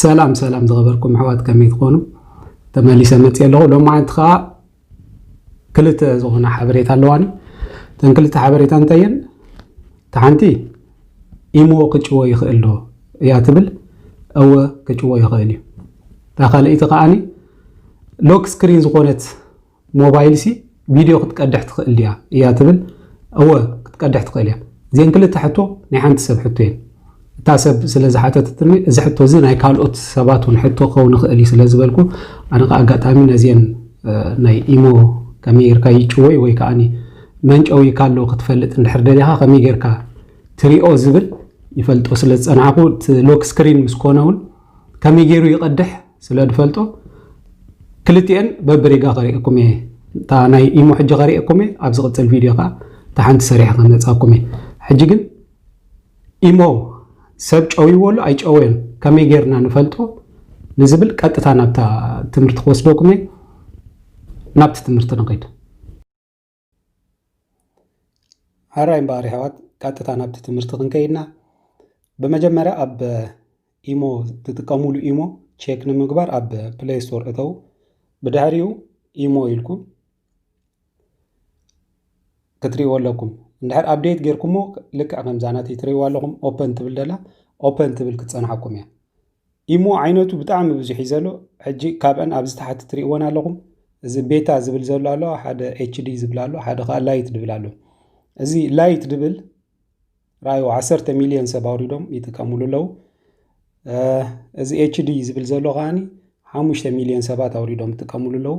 ሰላም ሰላም ዝኸበርኩም ኣሕዋት ከመይ ትኾኑ ተመሊሰ መፅእ ኣለኹ ሎም መዓልቲ ከዓ ክልተ ዝኾነ ሓበሬታ ኣለዋኒ እተን ክልተ ሓበሬታ እንታይ እየን እቲ ሓንቲ ኢሞ ክጭዎ ይኽእል ዶ እያ ትብል እወ ክጭዎ ይኽእል እዩ እታ ካልኣይቲ ከዓኒ ሎክ ስክሪን ዝኾነት ሞባይልሲ ቪድዮ ክትቀድሕ ትኽእል ድያ እያ ትብል? እወ ክትቀድሕ ትኽእል እያ። እዚኤን ክልተ ሕቶ ናይ ሓንቲ ሰብ ሕቶ እየን። እታ ሰብ ስለ ዝሓተተትኒ እዚ ሕቶ እዚ ናይ ካልኦት ሰባት እውን ሕቶ ክኸውን ይኽእል እዩ ስለ ዝበልኩ ኣነ ከኣ ኣጋጣሚ ነዚኤን ናይ ኢሞ ከመይ ጌርካ ይጭወይ ወይ ከኣ መን ጨውይካ ኣሎ ክትፈልጥ እንድሕር ደሊኻ ከመይ ጌርካ ትሪኦ ዝብል ይፈልጦ ስለ ዝጸናሕኩ እቲ ሎክ ስክሪን ምስ ኮነ እውን ከመይ ገይሩ ይቐድሕ ስለ ድፈልጦ ክልቲኤን በብሪጋ ከሪኤኩም እየ እታ ናይ ኢሞ ሕጂ ከሪኤኩም እየ ኣብ ዝቕጽል ቪድዮ ከኣ እታ ሓንቲ ሰሪሐ ከመጻኩም እየ ሕጂ ግን ኢሞ ሰብ ጨውይዎ ኣሎ ኣይጨወዮን ከመይ ጌርና ንፈልጦ ንዝብል ቀጥታ ናብታ ትምህርቲ ክወስደኩም እየ ናብቲ ትምህርቲ ንኸይድ ሓራይ እምበኣር የሕዋት ቀጥታ ናብቲ ትምህርቲ ክንከይድና ብመጀመርያ ኣብ ኢሞ ትጥቀሙሉ ኢሞ ቼክ ንምግባር ኣብ ፕሌይ ስቶር እተው ብድሕሪኡ ኢሞ ኢልኩም ክትሪእዎ ኣለኩም እንድሕር ኣብዴት ጌርኩሞ ልክዕ ከምዛ ናተይ ትሪእዋ ኣለኹም ኦፐን ትብል ደላ ኦፐን ትብል ክትፀንሓኩም እያ ኢሞ ዓይነቱ ብጣዕሚ ብዙሕ እዩ ዘሎ ሕጂ ካብአን ኣብዚ ታሕቲ ትሪእወን ኣለኹም እዚ ቤታ ዝብል ዘሎ ኣሎ ሓደ ኤችዲ ዝብል ኣሎ ሓደ ከዓ ላይት ዝብል ኣሎ እዚ ላይት ዝብል ራዩ ዓሰርተ ሚሊዮን ሰብ ኣውሪዶም ይጥቀምሉ ኣለዉ እዚ ኤችዲ ዝብል ዘሎ ከዓኒ ሓሙሽተ ሚሊዮን ሰባት ኣውሪዶም ይጥቀምሉ ኣለዉ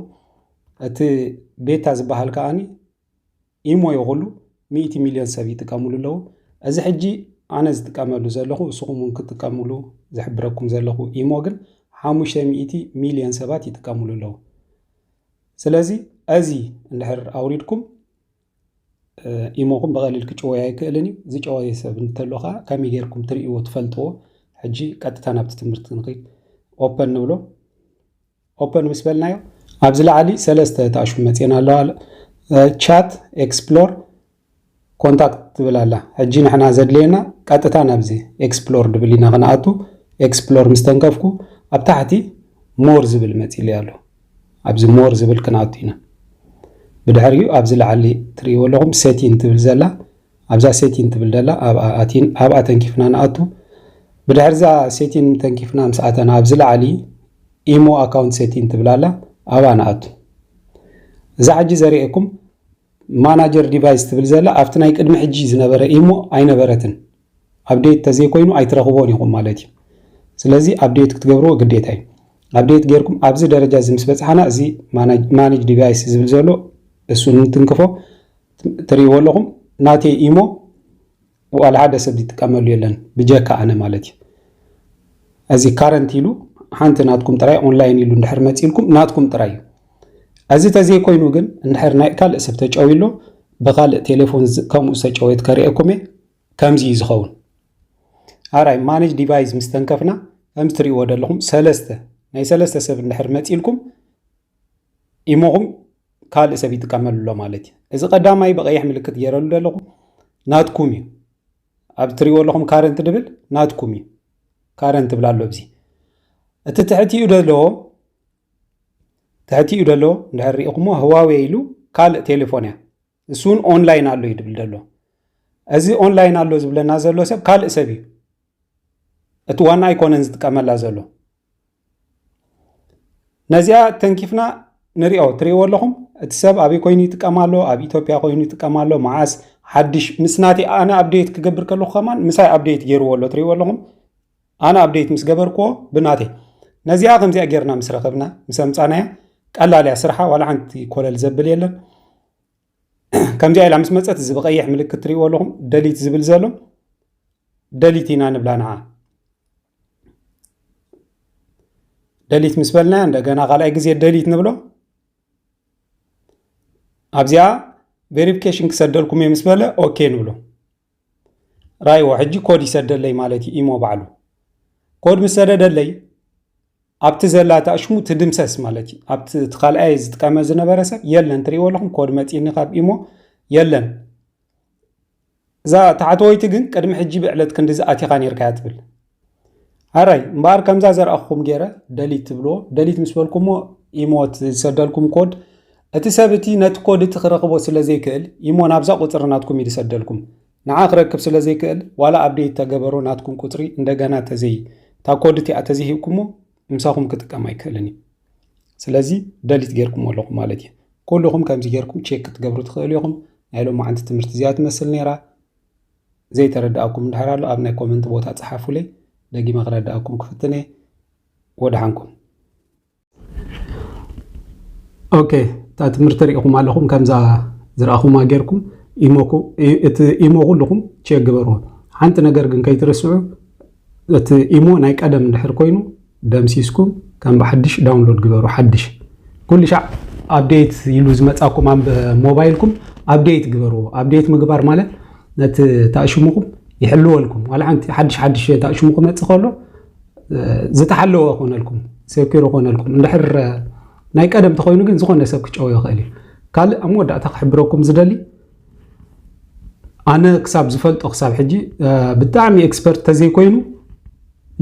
እቲ ቤታ ዝበሃል ከዓኒ ኢሞ ይኹሉ ሚእቲ ሚልዮን ሰብ ይጥቀምሉ ኣለዉ። እዚ ሕጂ ኣነ ዝጥቀመሉ ዘለኹ እስኹም እውን ክትጥቀምሉ ዝሕብረኩም ዘለኹ ኢሞ ግን ሓሙሽተ ሚእቲ ሚልዮን ሰባት ይጥቀምሉ ኣለዉ። ስለዚ እዚ እንድሕር ኣውሪድኩም ኢሞኹም ብቐሊል ክጭወይ ኣይክእልን እዩ። ዝጨወየ ሰብ እንተሎ ከዓ ከመይ ጌርኩም ትርእይዎ ትፈልጥዎ? ሕጂ ቀጥታ ናብቲ ትምህርቲ ንኽድ ኦፐን ንብሎ ኦፐን ምስ በልናዮ ኣብዚ ላዕሊ ሰለስተ ተኣሽሙ መጺኤና ኣለዋ ቻት ኤክስፕሎር ኮንታክት ትብል ኣላ ሕጂ ንሕና ዘድልየና ቀጥታ ናብዚ ኤክስፕሎር ድብል ኢና ክንኣቱ ኤክስፕሎር ምስ ተንከፍኩ ኣብ ታሕቲ ሞር ዝብል መጺሉ ኣሎ ኣብዚ ሞር ዝብል ክንኣቱ ኢና ብድሕሪኡ ኣብዚ ላዕሊ ትርእይዎ ኣለኹም ሴቲን ትብል ዘላ ኣብዛ ሴቲን ትብል ደላ ኣብኣ ኣቲን ኣብኣ ተንኪፍና ንኣቱ ብድሕርዛ ሴቲን ተንኪፍና ምስ ኣተና ኣብዚ ላዕሊ ኢሞ ኣካውንት ሴቲን ትብል ኣላ ኣብኣ ንኣቱ እዛ ሕጂ ዘርእየኩም ማናጀር ዲቫይስ ትብል ዘላ ኣብቲ ናይ ቅድሚ ሕጂ ዝነበረ ኢሞ ኣይነበረትን ኣብዴት ተዘይኮይኑ ኣይትረኽቦን ኢኹም ማለት እዩ ስለዚ ኣብዴት ክትገብርዎ ግዴታ እዩ ኣብዴት ጌርኩም ኣብዚ ደረጃ እዚ ምስ በፅሓና እዚ ማኔጅ ዲቫይስ ዝብል ዘሎ እሱ እንትንክፎ ትሪእዎ ኣለኹም ናተይ ኢሞ ዋላ ሓደ ሰብ ዝጥቀመሉ የለን ብጀካ ኣነ ማለት እዩ እዚ ካረንት ኢሉ ሓንቲ ናትኩም ጥራይ ኦንላይን ኢሉ እንድሕር መፂልኩም ናትኩም ጥራይ እዩ እዚ ተዘይኮይኑ ግን እንድሕር ናይ ካልእ ሰብ ተጨውዩ ኣሎ ብካልእ ቴሌፎን ከምኡ ዝተጨወየት ከርእየኩም እየ ከምዚ እዩ ዝኸውን ኣራይ ማነጅ ዲቫይስ ምስ ተንከፍና ከምዚ ትሪእዎ ዘለኹም ሰለስተ ናይ ሰለስተ ሰብ እንድሕር መፂልኩም ኢሞኹም ካልእ ሰብ ይጥቀመሉ ኣሎ ማለት እዩ እዚ ቀዳማይ ብቀይሕ ምልክት ገይረሉ ዘለኹ ናትኩም እዩ ኣብ ትሪእዎ ኣለኹም ካረንት ድብል ናትኩም እዩ ካረንት ትብል ኣሎ ብዚ እቲ ትሕቲኡ ደሎ ትሕቲኡ ደሎ እንድሕር ሪኢኹሞ ህዋዌ ኢሉ ካልእ ቴሌፎን እያ እሱ እውን ኦንላይን ኣሎ እዩ ድብል ደሎ እዚ ኦንላይን ኣሎ ዝብለና ዘሎ ሰብ ካልእ ሰብ እዩ እቲ ዋና ኣይኮነን ዝጥቀመላ ዘሎ ነዚኣ ተንኪፍና ንሪኦ ትሪእዎ ኣለኹም እቲ ሰብ ኣበይ ኮይኑ ይጥቀም ኣሎ ኣብ ኢትዮጵያ ኮይኑ ይጥቀም ኣሎ መዓስ ሓድሽ ምስ ናተይ ኣነ ኣብዴት ክገብር ከለኹ ከማን ምሳይ ኣብዴት ገይርዎ ኣሎ ትሪእዎ ኣለኹም ኣነ ኣብዴት ምስ ገበርክዎ ብናተይ ነዚኣ ከምዚኣ ጌርና ምስ ረኸብና ምስ ኣምፃናያ ቀላል እያ ስርሓ ዋላ ሓንቲ ኮለል ዘብል የለን ከምዚኣ ኢላ ምስ መፀት እዚ ብቀይሕ ምልክት ትሪእዎ ኣለኹም ደሊት ዝብል ዘሎ ደሊት ኢና ንብላ ንዓ ደሊት ምስ በልና እንደገና ካልኣይ ግዜ ደሊት ንብሎ ኣብዚኣ ቬሪፊኬሽን ክሰደልኩም እየ ምስ በለ ኦኬ ንብሎ ራይዎ ሕጂ ኮድ ይሰደለይ ማለት እዩ ኢሞ ባዕሉ ኮድ ምስ ሰደደለይ ኣብቲ ዘላ ታእሽሙ ትድምሰስ ማለት እዩ ኣብቲ እቲ ካልኣይ ዝጥቀመ ዝነበረ ሰብ የለን ትሪእዎ ኣለኹም ኮድ መፂኒ ካብ ኢሞ የለን እዛ ታሕተወይቲ ግን ቅድሚ ሕጂ ብዕለት ክንዲ ዝኣቲኻ ነርካያ ትብል ኣራይ እምበኣር ከምዛ ዘርኣኹም ገይረ ደሊት ትብልዎ ደሊት ምስ በልኩሞ ኢሞት ዝሰደልኩም ኮድ እቲ ሰብ እቲ ነቲ ኮድ እቲ ክረኽቦ ስለ ዘይክእል ኢሞ ናብዛ ቁፅሪ ናትኩም እዩ ዝሰደልኩም ንዓ ክረክብ ስለ ዘይክእል ዋላ ኣብዴት ተገበሮ ናትኩም ቁፅሪ እንደገና ተዘይ እታ ኮድ እቲኣ ተዘይሂብኩሞ ምሳኹም ክጥቀም ኣይክእልን እዩ ስለዚ ደሊት ጌርኩሞ ኣለኹም ማለት እዩ ኩልኹም ከምዚ ጌርኩም ቼክ ክትገብሩ ትኽእሉ ኢኹም ናይ ሎማዓንቲ ትምህርቲ እዚኣ ትመስል ነይራ ዘይተረድኣኩም እንድሕር ኣሎ ኣብ ናይ ኮመንት ቦታ ጽሓፉለይ ደጊመ ክረድኣኩም ክፍትን እየ ወድሓንኩም ኦኬ እታ ትምህርቲ ሪኢኹም ኣለኹም ከምዛ ዝረኣኹማ ጌርኩም እቲ ኢሞ ኩልኹም ቼክ ግበርዎ ሓንቲ ነገር ግን ከይትርስዑ እቲ ኢሞ ናይ ቀደም እንድሕር ኮይኑ ደምሲስኩም ከም ብሓድሽ ዳውንሎድ ግበሩ ሓድሽ ኩሉ ሻዕ ኣብዴት ኢሉ ዝመጻኩም ኣብ ሞባይልኩም ኣብዴት ግበርዎ ኣብዴት ምግባር ማለት ነቲ ታእሽሙኩም ይሕልወልኩም ዋላ ሓንቲ ሓድሽ ሓድሽ ታእሽሙ ክመጽእ ከሎ ዝተሓለወ ኮነልኩም ሴኪር ኮነልኩም እንድሕር ናይ ቀደም ተኮይኑ ግን ዝኾነ ሰብ ክጨው ይኽእል እዩ ካልእ ኣብ መወዳእታ ክሕብረኩም ዝደሊ ኣነ ክሳብ ዝፈልጦ ክሳብ ሕጂ ብጣዕሚ ኤክስፐርት ተዘይኮይኑ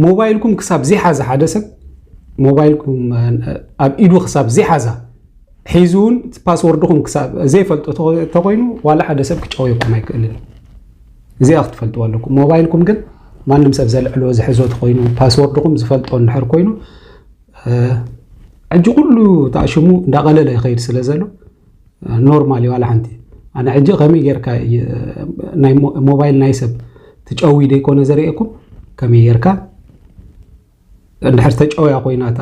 ሞባይልኩም ክሳብ ዘይሓዛ ሓደ ሰብ ሞባይልኩም ኣብ ኢዱ ክሳብ ዘይሓዛ ሒዙ እውን ፓስወርድኹም ክሳብ ዘይፈልጦ ተኮይኑ ዋላ ሓደ ሰብ ክጨወየኩም ኣይክእልን እዚኣ ክትፈልጥዎ ኣለኩም ሞባይልኩም ግን ማንም ሰብ ዘልዕሎ ዝሕዞ ተኮይኑ ፓስወርድኹም ዝፈልጦ እንድሕር ኮይኑ ሕጂ ኩሉ ተኣሽሙ እንዳቐለለ ይኸይድ ስለ ዘሎ ኖርማል እዩ ዋላ ሓንቲ ኣነ ሕጂ ከመይ ጌርካ ናይ ሞባይል ናይ ሰብ ትጨዊ ደይኮነ ዘርእየኩም ከመይ ጌርካ እንድሕር ተጨውያ ኮይና እታ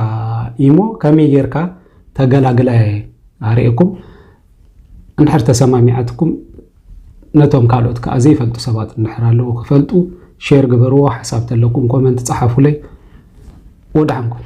ኢሞ ከመይ ጌርካ ተገላግላ እየ ኣርእየኩም እንድሕር ተሰማሚዓትኩም ነቶም ካልኦት ከዓ ዘይፈልጡ ሰባት እንድሕር ኣለዉ ክፈልጡ ሼር ግበርዎ ሓሳብ ተለኩም ኮመንት ፀሓፉለይ ወድሓንኩም